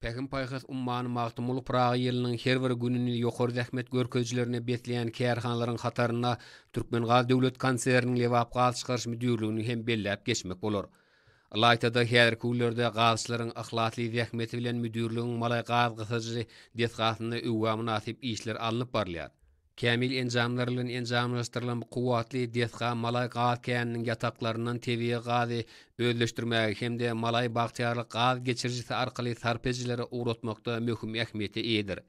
Pähim-paýhas ummany Magtymguly Pyragy ýylynyň her bir gününi ýokary zähmet görkezijilerine besleýän kärhanalaryň hatarynda Türkmengaz döwlet konserniniň Lebap gazçykaryş müdirligini hem belläp geçmek bolar. Ylaýta-da, häzirki günlerde gazçylaryň yhlasly zähmeti bilen müdirligiň Malaý gaz gysyjy desgasynda öwgä mynasyp işler alnyp barylýar. Kämil enjamlar bilen enjamlaşdyrylan bu kuwwatly desga Malaý gaz käniniň ýataklaryndan tebigy gazy özleşdirmäge hem-de Malaý Bagtyýarlyk gaz geçirijisi arkaly sarp edijilere ugratmakda möhüm ähmiýete eýedir.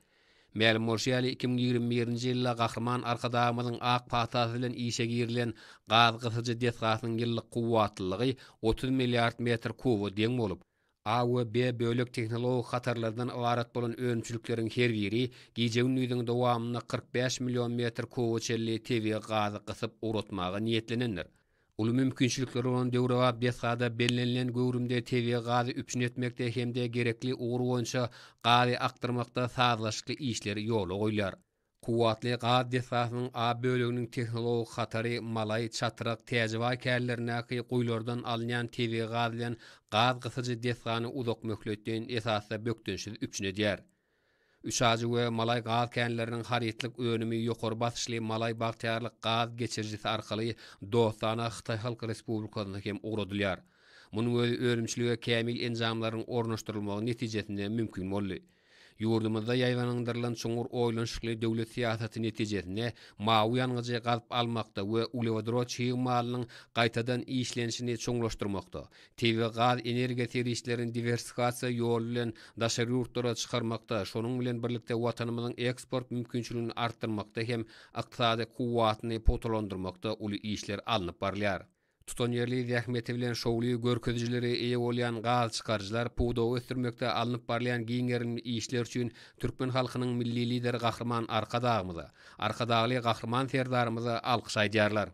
Mälim bolşy ýaly, iki müň ýigrimi birinji ýylda Gahryman Arkadagymyzyň ak patasy bilen işe girilen gaz gysyjy desgasynyň ýyllyk kuwwatlylygy otuz milliard metr kuba deň bolup, A we B bölek tehnologik hatarlardan ybarat bolan önümçilikleriň her biri gije-gündiziň dowamynda kyrk bäş million metr kuba çenli tebigy gazy gysyp ugratmaga niýetlenendir. Uly mümkinçilikleri bolan döwrebap desgada bellenilen göwrümde tebigy gazy üpjün etmekde hem-de gerekli ugur boýunça gazy akdyrmakda sazlaşykly işler ýola goýlar. Kuwwatly gaz desgasynyň A böleginiň tehnologik hatary Malaý, Çatryk, Täjibaý kärlerindäki guýulardan alynýan tebigy gaz bilen gaz gysyjy desgany uzak möhletleýin esasda bökdençsiz üpjün edýär. Üçajy we Malaý gaz känleriniň harytlyk önümi ýokary basyşly Malaý Bagtyýarlyk gaz geçirijisi arkaly dostana Hytaý Halk Respublikasyna hem ugradylýar. Munuň özi önümçilige kämil enjamlaryň ornaşdyrylmagy netijesinde mümkin boldy. Ýurdumyzda ýaýbaňlandyrylan çuňňur oýlanyşykly döwlet syýasaty netijesinde mawy ýangyjy gazyp almakda we uglewodorod çig malynyň gaýtadan işlenişini çuňlaşdyrmakda, tebigy gaz energiýa serişdelerini diwersifikasiýa ýoly bilen daşary ýurtlara çykarmakda, şonuň bilen birlikde Watanymyzyň eksport mümkinçiligini artdyrmakda hem ykdysady kuwwatyny pugtalandyrmakda uly işler alnyp barylýar. Tutanýerli zähmeti bilen şowly görkezijilere eýe bolýan gaz çykaryjylar pudagy ösdürmekde alnyp barylýan giň gerimli işler üçin türkmen halkynyň Milli Lideri Gahryman Arkadagymyza, Arkadagly Gahryman Serdarymyza alkyş aýdýarlar.